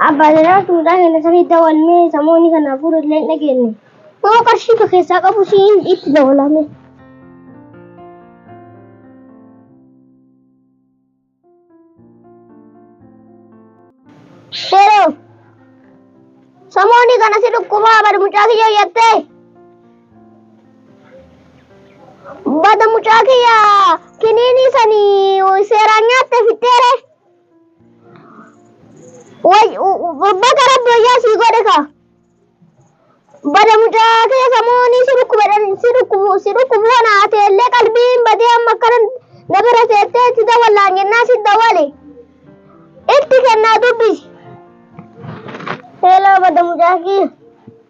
Abbaa Zanaa tuutaa keenya sanii dawalmee samoonni kana hafuura illee hin dhageenye. Yoo qarshii ka keessaa qabu siin itti dawalame. Yeroo samoonni kana si dhukkubaa bari mucaa kiyyoo jettee Bada mucaa kiyya kiniinii sani seeraan nyaatte fixxeere. Baga rabbi wayyaa sii godhe ka. Bada mucaa kiyya samuunii si dhukkubedhan si dhukkubu si dhukkubu kana ati illee qalbiin badee amma akkana na bira seettee itti dawallaan jennaa si dawale. Itti kennaa dubbisi. Hello bada mucaa kiyya.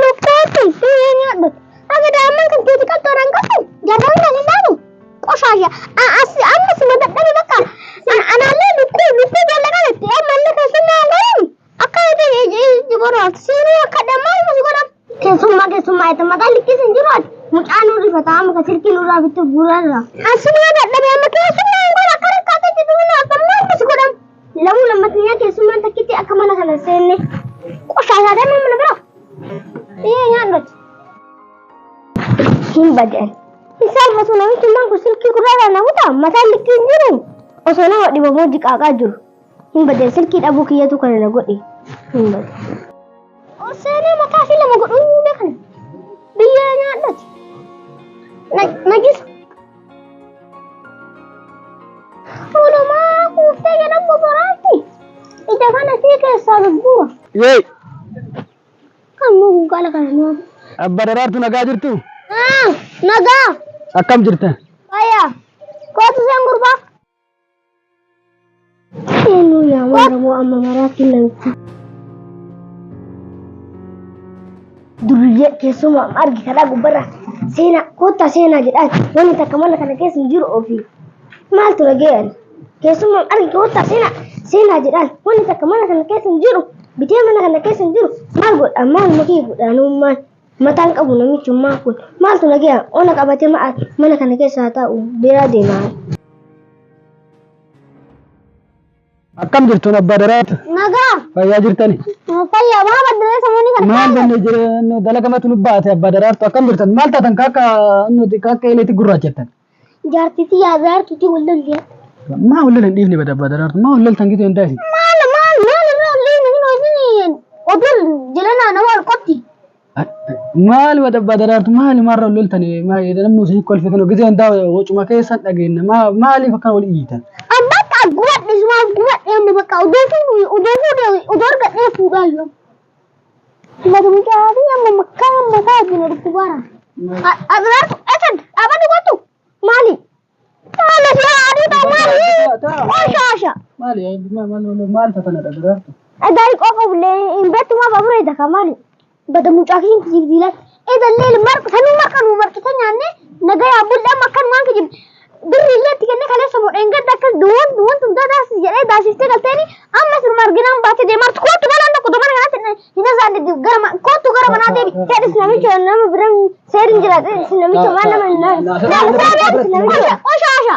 Lukkeetti biyyee nyaadhu. Akka daa'imman kan keeti qaltoon hin qabdu jarroon kan hin dhaanu qoshaasha. Amma si na dadhabe bakka anaallee lukkuu lukkuu jaallaqaa jetti. Ammallee keessummaa godhan akka jiborraa siinuu akka dammaa musi godhan. Keessummaa keessummaa jetti mataa likkii sin jiru ati mucaa nu rifataa muka silkii nurraa bittu gurarra. Asii na dadhabe amma keessummaa hin godhan akka rakkaatee jiru akka musi godhan. Lamuu lammatniyaa keessummaan takkitti akka mana kana seenne qoshaasaa deemaa mana bira. Ee nyaadhot. Hin badeen. Hin saalfatu namichummaan kun silkii gurraadhaan na kutaa mataan likkii hin jiru. Osoo nama dhibamoo jiqaaqaa jiru. Hin badeen silkii dhabuu kiyyatu kana na godhe. Hin badeen. Oseenee mataa fi lama godhuu beekan. Biyyee nyaadhot. Najisa. Tulumaa kuuftee jedhan boboraatti. Ija kana sii keessaa gurgura. Yee! Kan mugu gala kana nuu. Abba daraartu nagaa jirtu? Nagaa. Akkam jirta? Fayyaa. Kootu seen gurbaa. Eenyu yaa maaramoo amma maraatti namichi. Durriyyee keessumaa amma argitadhaa gubbarra seenaa koottaa seenaa jedhaa wanni takka mana kana keessa hin jiru ofii. Maaltu dhaga'an? Keessumaa argi koottaa seenaa seenaa jedhaan wanni takka mana kana keessa hin jiru bitee mana kana keessa hin jiru maal godhaa maal mukii godhaanummaan Mataan qabu namichummaa kun maaltu nagaya ona qabate ma'a mana kana keessa haa taa'u beeraa deemaa. Akkam jirtuun abbaa daraatu? Nagaa. Fayyaa jirtani? Fayyaa maal baddaree samuunii kana Maal kaa'e? danne jireenya dalagamatu nu baate abbaa daraartu akkam jirtan? Maal taatan kaakka nuti kaakka eleetti gurraachattan? Jaartii tiyyaa jaartuutii wal lollee. Maa wal lolan dhiifni bada bada dartu maa wal loltan gitu hin daisi. Maal maal maal irraa wal dhiifne kun hojiin odol jiranaa nama wal qotti. Maal bada bada dartu maal maarra wal loltan maa namni isin kolfe kan gitu hin daisi wacuma keessan dhageenya maa maaliif akkan wal iyyitan. Abbaa akka gubadhe sumaaf gubadhe amma bakka odoo fuudhu odoo fuudhe odoo argadhee fuudhaa yoo. Madu mucaa fi amma makkaa mataa wajjin dhuftu bara. Abiraatu esan dhaabadhu kottu maali? Maali si adii ta'u maali? Osha osha. Maali maal tatana dhabiraartu? Gaarii qofa bullee hin beektu maa baburee daka maali? Bada mucaa fi hin jiiljiilatti. Edallee marqa sanuu marqa nuu marqitee nyaannee nagayaa bulle amma akkanumaan kijibne. Birri illee itti kennee kaleessa moo dheengadda akkas duwwan duwwan tun daadaasi jedhee daasiftee galteeni amma sirma arginaan baatee deemartu kootu galaan tokko domana kanatti hin hazaan deddeebi gara ma- kootu gara manaa deebi. Jedhis namicha nama biran seerin jiraate isin namicha waan nama hin naafu. Qooshaasha.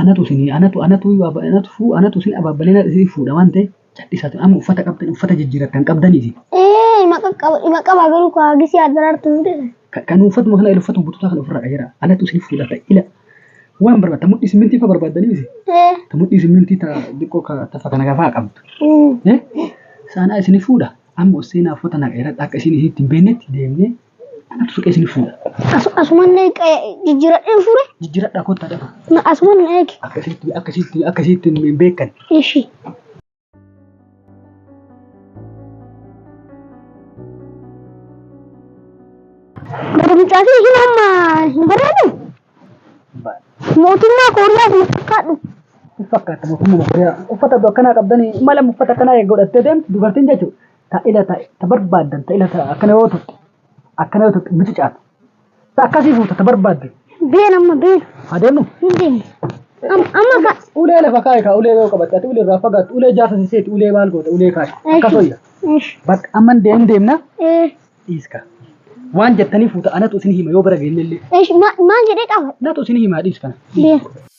Anatu isinii anatu anatu anatu fuu anatu isin ababbalee isin fuudha waan ta'e cadhisaa ture amma uffata qabdan uffata jijjiiratan qabdan isin Ee ima qaqqaba ima qaba garuu koo hagisii addaraartu hin jedhe. kan uffatuma kana uffatu bututaa kana ofirraa qayyara anatu isin fuudha ta'e ila waan barbaadda mudhii simmintii fa barbaaddanii isin Ee. ta mudhii simmintii ta diqqoo ka tafa kana gafaa qabdu mm. Eh, saanaa isin fuudha amma usseenaa uffata na qayyara akka isin isitti hin beeknetti deemnee Suqee isin fuudha. Asuman jijjiiradheen fuure. Jijjiiradhaa kottaa dhafa. Asuman na eegi. Akkasitti akkasitti akkasitti hin beekan. Ishii. Gurgurtaa fi hin amma hin barbaadu. Mootummaa Kooriyaa fi fakkaadhu. Fakkaata mootummaa Kooriyaa. Uffata akkanaa qabdanii mala uffata akkanaa eeggodhattee deemtu dubartiin jechuudha. ta ila ta ta barbaaddan ta ila ta akkana yoo tuqxe akkana yoo tuqxe mucucaati ta akkasii fuuta ta barbaadde Been amma been. haa deemnu Hin deemne. Am- Amma ka. ulee lafa kaa'i kaa ulee yoo qabatte ati ulee irraa fagaattu ulee jaasa siseeti ulee maal goota ulee kaa'i akkas hoyya Eesh. bakka amma hin deemne deemna Ee. dhiiska waan jettanii fuuta anatu isin hima yoo bara geenne illee Eesh. ma- Maal jedhee qaba? natu isin himaa dhiiskana Been.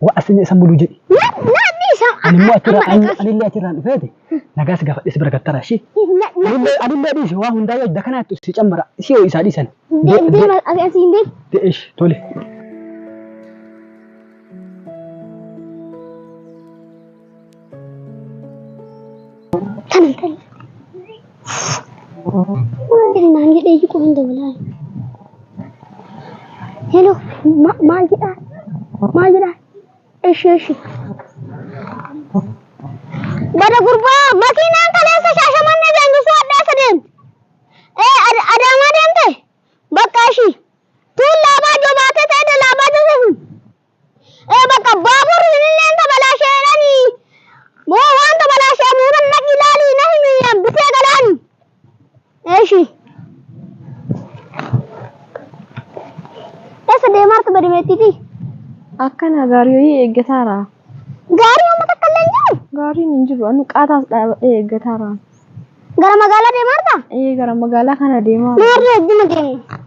Wa asini isa mulu jedhi. Namni isa Ani immoo achirraa ani ani illee achirraan dhufeeti. Nagaa si gaafadhe si bira gattara ishii. Anillee anillee dhiisi waa hundaa yoo idda kanaatti si cammara si yoo isaa dhiisan. Deema asiin deema. Deesh tole. Kana kana. Waan jedhe naan jedhe iyyu qofa hin dabalaa. Hello ma- maal jedhaa? Maal jedhaa? Eshi eshi. Bada gurbaa makiinaan kaleessa shaashamannee daangesuu addaa isa deemte. Ee ad- adaamaa deemte? Bakka ishii. Tuun laabaa jobaatee ta'e laabaa joseesuun. Ee bakka baaburri sinilleen tabalaasheedhani moo waan tabalaashee muudan naqi ilaali na himi hambisee galaani. Eeshi. Eessa deemaarta badimeettiiti? Akkana gaarii wayii eeggataara. Gaarii amma takka illee hin jiru. Gaariin hin jiru. Anu qaataas dhaabadhee eeggataara. Gara magaalaa deemaa jirta? Ee gara magaalaa kana deemaa Mee har'a hedduma deemna.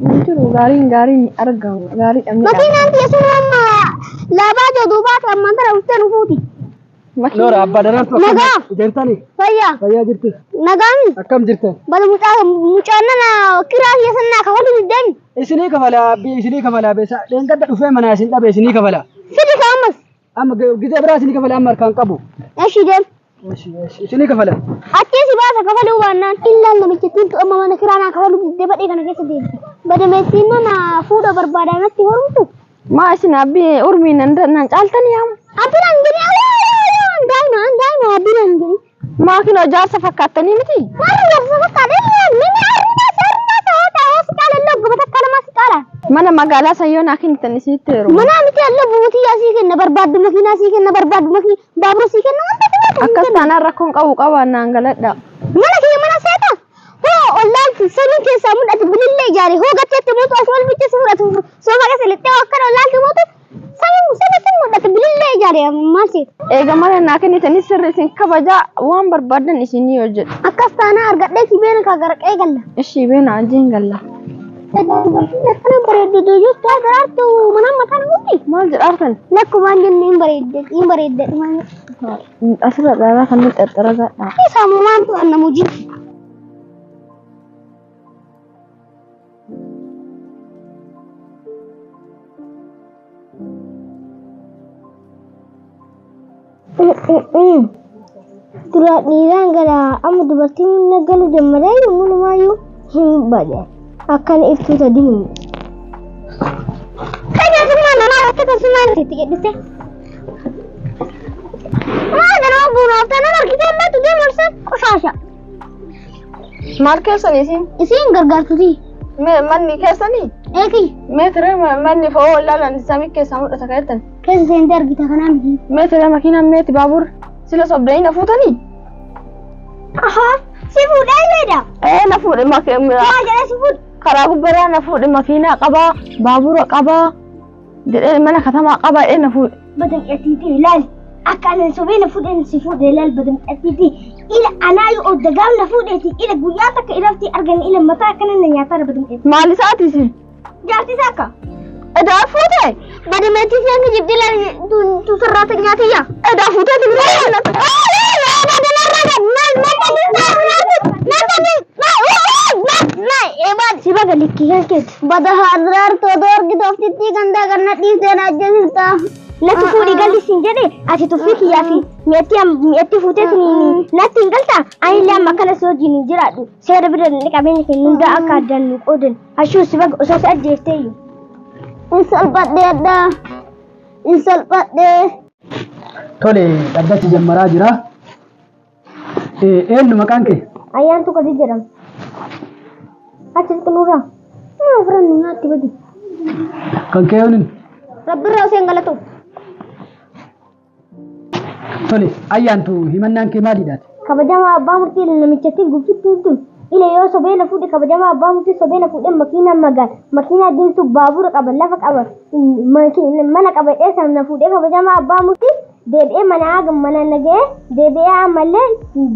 hin jiru gaariin gaariin hin argamu gaarii dhabne Makiinaan tiyya sun amma laabaa jee duubaa ta'e ammaan tana dhuftee nu fuuti. Noora abbaa danaan tokko Nagaa. deemtanii Fayyaa. fayyaa jirti Nagaami. akkam jirtan Bala mucaa mucaan nana kiraa kiyya san naa kafalu diddeen. isinii kafalaa abbii isinii kafalaa beesaa dheengadda dhufee manaa isin dhabe isinii kafalaa Fidi ka ammas. Amma gita biraa isinii kafala amma harkaan qabu. Eshi deem. Isinii kafala. Achii si baasa kafaluu baannaan. Illaan namichittiin tu amma mana kiraa naa kafaluu diddee badhee kana keessa deemti. Badameettiin nama fuudha barbaadaa natti horumtu. Maa isin abbi urmiin nan caaltan yaam. Abbiin hangini daa'ima daa'ima abbiin hangini. Maakiin ijaarsa fakkaattanii miti? Warri ijaarsa fakkaatan illee mana arnaa sarnaa sa'oota hospitaala illee ogguma takka lamaa si caala. Mana magaalaa san yoo naa kennitan isinitti heeruma. Manaa miti illee ogguma tiyyaa sii kenna barbaaddu makiinaa sii kenna barbaaddu makii baabura sii kenna wanta filatu sii Akkas kenna. taanaan rakkoon qabu qaba naan galadha. Mana kiyya mana seeta. Hoo ollaan samiin keessaa mul'atu bilillee ijaare hoo gatteetti mootu as wal bichee si fudhatu soofaa keessa lixxee akkana ollaan kee mootu Sayyuu sirriitti mul'ata bilillee ijaare maal seeta. Eega mana naa kennitanii sirri isin kabajaa waan barbaadan isinii hojjedha. Akkas taanaa argadhee si beena kaa garaqee galla. Ishii beena ajeen galla. Dubartiin akkana bareeddu duyyuu taa daraartu mana mataa namuuti. Maal jedhaartan? Lakkumaan jenne hin bareedde hin bareedde dhumaan. Asirra dhaaraa kan nuti xaxxara gaadhaa. Saamumaan tu'an namuujiin. Dura dhiiraan gara amma dubartiin na galu dammadee yommuu namaayyuu hin bade. Akkan iftuu sadi hin. Fayyadummaa namaa irratti akkasumaan itti gadhise. Maa ganaa buunaaf tanan argitee ammaa tuddee marsan qoshaasha. Maal keessan isin? Isiin gargaartuti. Me- Manni keessanii? Eegi Meetira ma- manni fa'oo ollaan samii keessaa mul'ata keessan. keessa seentee argita kanaa miti. Meetira makiinaan meeti baabur sila sobdanii na fuutanii? Ahaa si fuudhee jedha. Ee na fuudhe makiinaa. Yaa jedhee si fuudhe. Karaa gubbaraa na fuudhe makiinaa qabaa baabura qabaa jedhee mana katamaa qaba jedhee na fuudhe. badamxatiiti ilaali akka anan sobee na fuudheen si fuudhe ilaali badamxatiiti ila anaa yoo odda gaaf na fuudheeti ila guyyaa takka irratti argan ila mataa akkana na nyaataara badamxatiiti Maal isaati si? jaartii isaa akka Edaa fuute? badamxatiiti isaan ni jibdi ilaali tu sarraata nyaatiyya Edaa fuuteeti biraa jaalladha. Sibaga likkii kan keeti. Bada haadiraar too doorgi tooftittii gandaa ganna dhiisteen ajjeesista. Natti fuudhi galli siin jedhe ati tuffii kiyyaa fi mi'attii mi'attii fuutee siniin natti hin galta ani illee amma akkana si wajjin hin jiraadhu seera bira dandhe qabeenya keenya hundaa akka addaan nu qoodan hashuu si baga osoo si ajjeefteeyyu. Hin salphadhee addaa. Hin salphadhee. Tole dhaddatti jammaraa jira. Eenyu maqaan kee? Ayyaantu Kadir jedhama. Achi xiqqinurraa maa ofirra nu nyaatti badi. Kan kee yooniin? Rabbirraa osoo hin galatu. Tole, ayyaantu himannaan kee maalidhaati? Kabajamaa abbaa murtii namichattiin gubsittiin tun ila yoo sobee na fuudhe kabajamaa abbaa murtii sobee na fuudhe makiinaa magaala makiinaa diimtuu baabura qaba lafa qaba mana qaba dheessan na fuudhe kabajamaa abbaa murtii deebi'ee manaa mana nagee deebi'ee ammallee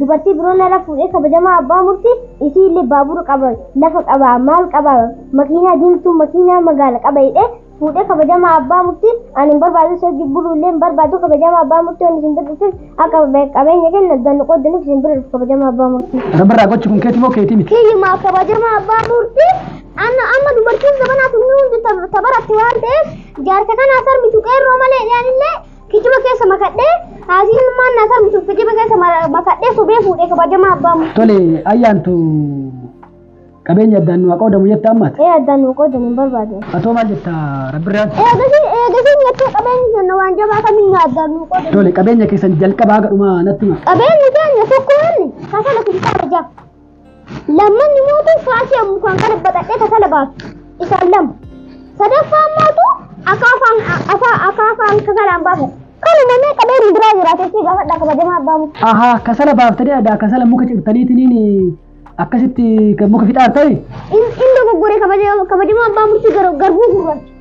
dubartii biroo narra fuudhee kabajamaa abbaa murtii isii illee baabura qaba lafa qaba maal qaba makiinaa diimtuu makiinaa magaala qaba jedhee fuudhee kabajamaa abbaa murtii ani hin barbaadu isa hojii buluu illee hin barbaadu kabajamaa abbaa murtii ani isin birrifis akka qabeenya kenna dannu qoodaniif isin birrif kabajamaa abbaa murtii. Rabbarraa gochi kun keetii moo keetii miti? Kiyyumaa kabajamaa abbaa murtii amma dubartiin zabanaa kun hundi tabaratti waan ta'eef Jaarsa kana asar mitu qeerroo malee dhiyaanillee kijiba keessa makadhee haasiin ilmaan na asar mitu kijiba keessa mara- makadhee sobee fuudhee kabajamaa abbaa mu. Tole ayyaantu qabeenya addaan nu haa qoodamu jetta ammaati. Ee addaan nu qoodan hin barbaadu. Atoo maal jetta rabbirraan? Eegasiin eegasiin jettee qabeenyi kenna waan jabaa kamiin nu addaan nu qoodan. Tole qabeenya keessan jalqabaa haga dhumaa natti hima. Qabeenyi keenya tokko inni kasala kun taara ja'a. Lammanni mootu faasii ammu kan kana baxadhee kafala baatu. Isaan lama. Sadaffaan mootu akaafaan afaa akaafaan kafalaan baafata. Kanuma mee qabeen biraa jiraatee si gaafadha kabajamaa abbaa muka. Ahaa kasala baaftanii adda kasala muka cirtaniitiin akkasitti kan muka fixaartani? Inni dogoggore kabajamaa abbaa murtii garbuu gurraacha.